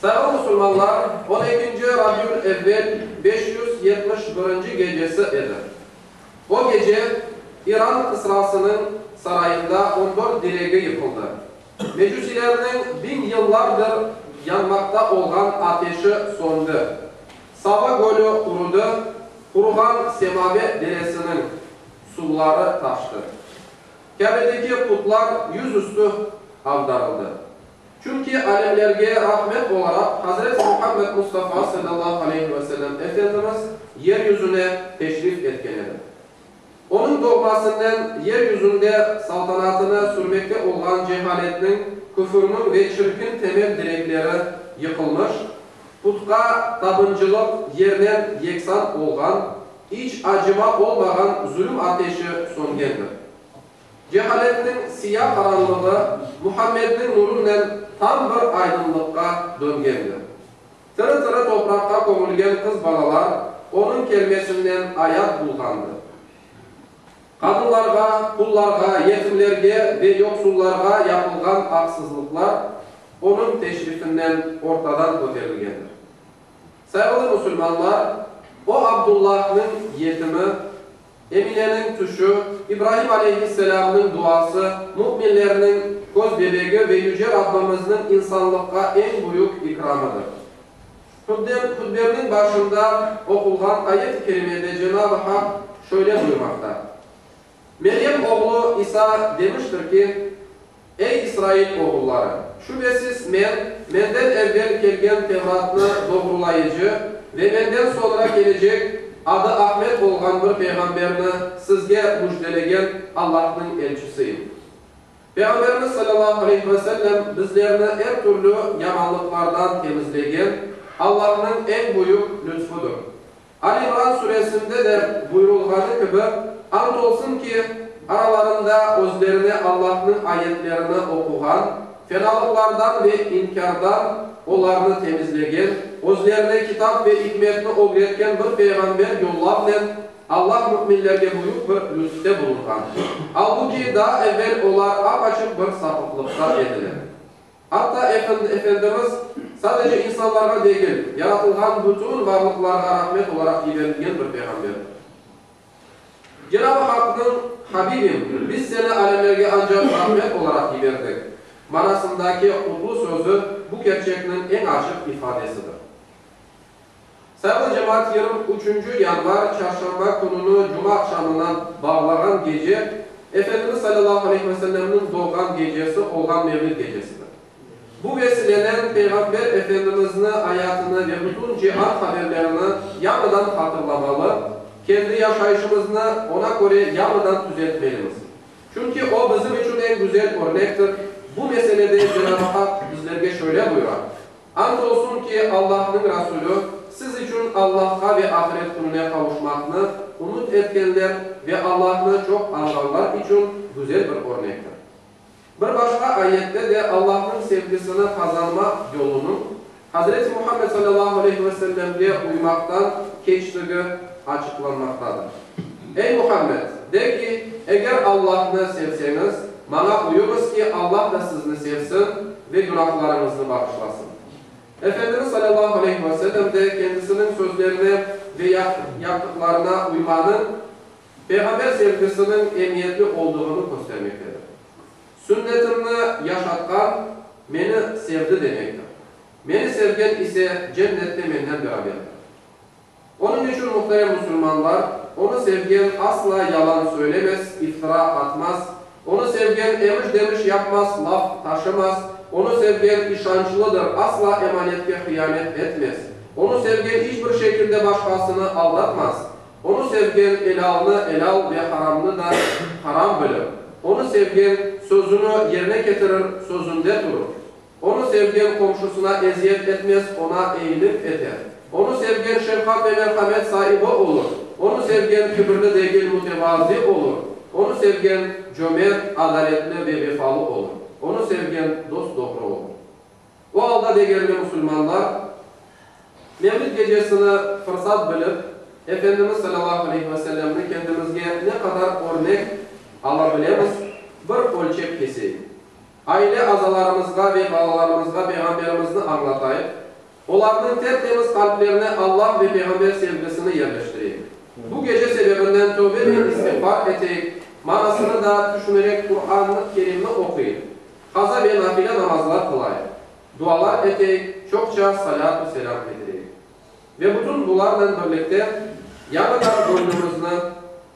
Sarı musulmanlar on ekinci Rabiul Evvel beş yüz yetmiş birinci gecesi edi. O gece İran Kısrasınıñ sarayında on dört diregi yıqıldı. Mecusilerniñ biñ yıllardır yanmaqta olğan ateşi söndi. Sava gölü qurudı, quruğan Semave deresiniñ suvları taştı. Kâbedeki putlar yüz üstü avdarıldı. Çünki alemlerge rahmet olaraq Hazreti Muhammed Mustafa sallallahu aleyhi ve sellem Efendimiz yer yüzüne teşrif etken edi. Onıñ doğmasınnen yer yüzünde saltanatını sürmekte olğan cehaletniñ, küfürniñ ve çirkin temel direkleri yıqılmış, putqa tabıncılıq yernen yeksan olğan, iç acıma olmağan zulüm ateşi söngendir. Cehaletniñ siya qaranlığı Muhammedniñ nurınen tam bir aydınlıqqa döngendir. Tiri-tiri topraqqa kömülgen qız balalar onıñ kelmesinnen ayat bulğandır. Qadınlarğa, qullarğa, yetimlerge ve yoqsullarğa yapılğan aqsızlıqlar onıñ teşrifinnen ortadan köterilgendir. Sayğılı musulmanlar, o Abdullahnıñ yetimi, Emineniñ tüşü, İbraim aleyhisselâmnıñ duası, müminlerniñ köz bebegi ve Yüce Rabbimizniñ insanlıqqa eñ büyük ikramıdır. Hutbemniñ başında oqulğan ayet-i kerimede Cenab-ı Hak şöyle buyurmaqta, Meryem oğlu İsa demiştir ki, Ey İsrail oğulları! Şübesiz Men, menden evvel kelgen Tevratnı doğrulayıcı ve menden soñra kelecek, adı Ahmet olğan bir peyğamberni sizge müjdelegen Allahnıñ elçisiyim. Peyğamberimiz sallallahu aleyhi ve sellem bizlerni er türlü yamanlıqlardan temizlegen Allahnıñ eñ büyük lütfüdür. Al İmran Suresinde de buyurılğanı kibi, Ant olsun ki, aralarında özlerine Allahnıñ ayetlerini oquğan, fenalıqlardan ve inkârdan olarnı temizlegen, özlerine kitap ve ikmetni ögretken bir peyğamber yollavnen Allah müminlerge büyük bir lütfte bulunğan. Albu ki, daa evel olar ap-açıq bir sapıqlıqta ediler. Atta Efendimiz sadece insanlarğa degil, yaratılğan bütün varlıqlarğa rahmet olaraq yiberilgen bir peyğamber. Cenab-ı Haqnıñ, Habibim, biz seni alemlerge ancaq rahmet olaraq yiberdik manasındaki qutlu sözü bu kerçekniñ eñ açıq ifadesidir. Saylı cemaat yırım üçünci yanvar, çarşamba, kününi cuma aqşamına bağlağan gece, Efendimiz salâllahu aleyhi ve sellemniñ doğğan gecesi olğan Mevlid gecesidir. Bu vesilenen Peyğamber Efendimizni ayatını ve bütün cihan haberlerini yañıdan hatırlamalı, kendi yaşayışımıznı Ona köre yañıdan tüzeltmelimiz. Çünki O bizim içün eñ güzel örnektir. Bu meselede Cenab-ı Haq bizlerge şöyle buyura. And olsun ki, Allahnıñ Rasulü, siz içün Allahqa ve ahiret kününe qavuşmaqnı ümüt etkenler ve Allahnı çoq añğanlar içün güzel bir örnektir. Bir başqa ayette de Allahnıñ sevgisini qazanmaq yolunıñ Hazreti Muhammed sallallahu aleyhi ve sellemge uymaqtan keçtigi açıqlanmaqtadır. Ey Muhammed, de ki, eger Allahnı sevseñiz, maña uyuñız ki, Allah da sizni sevsin ve günahlarıñıznı bağışlasın. Efendimiz salâllahu aleyhi ve sellem de kendisiniñ sözlerine ve yaptıqlarına uymanıñ Peyğamber sevgisiniñ emiyetli olduğını köstermektedir. Sünnetimni yaşatqan meni sevdi demektir. Meni sevgen ise cennette menden beraberdir. Onıñ içün, muhterem musulmanlar, onı sevgen asla yalan söylemez, iftıra atmaz, onı sevgen emiş-demiş yapmaz, laf taşımaz, onı sevgen işançlıdır, asla emanetke hıyanet etmez, onı sevgen iç bir şekilde başqasını aldatmaz, onı sevgen elâlnı elâl ve haramnı da haram bilir, onı sevgen sözüni yerine ketirir, sözünde turur. Onı sevgen qomşusına eziyet etmez, oña eyilik eter. Onı sevgen şefqat ve merhamet saibi olur, onı sevgen kibirli degil, mütevazi olur, onı sevgen cömert, adaletli ve vefalı olur, onı sevgen dost-doğru olur. O alda degerli musulmanlar, Mevlid gecesini fırsat bilip, Efendimiz salâllahu aleyhi ve sellemni kendimizge ne qadar örnek ala bilemiz, bir ölçep keseyik. Aile azalarımızğa ve balalarımızğa Peyğamberimizni añlatayıq, olarnıñ tertemiz qalplerine Allah ve Peyğamber sevgisini yerleştireyik. Bu gece sebebinden tövbe ve istiğfar eteyik, manasını da tüşünerek Quran-ı Kerimni oquyıp, qaza ve nafile namazlar qılayıq, dualar eteyik, çoqça salât-u selâm edireyik. Ve bütün bularnen birlikte yañıdan göñlümizni.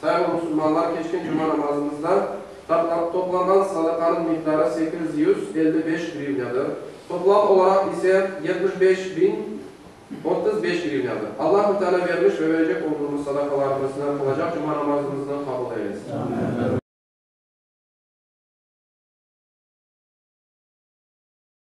Sayılı musulmanlar, keçken cuma namazımızda toplanğan sadaqanıñ miqdarı sekiz yüz elli beş grivnâdır, toplam olaraq ise yetmiş beş biñ otuz beş grivnâdır. Allahü Teala bermiş ve verecek olduğımız sadaqalarımıznı, qılacaq cuma namazımıznı qabul eylesin.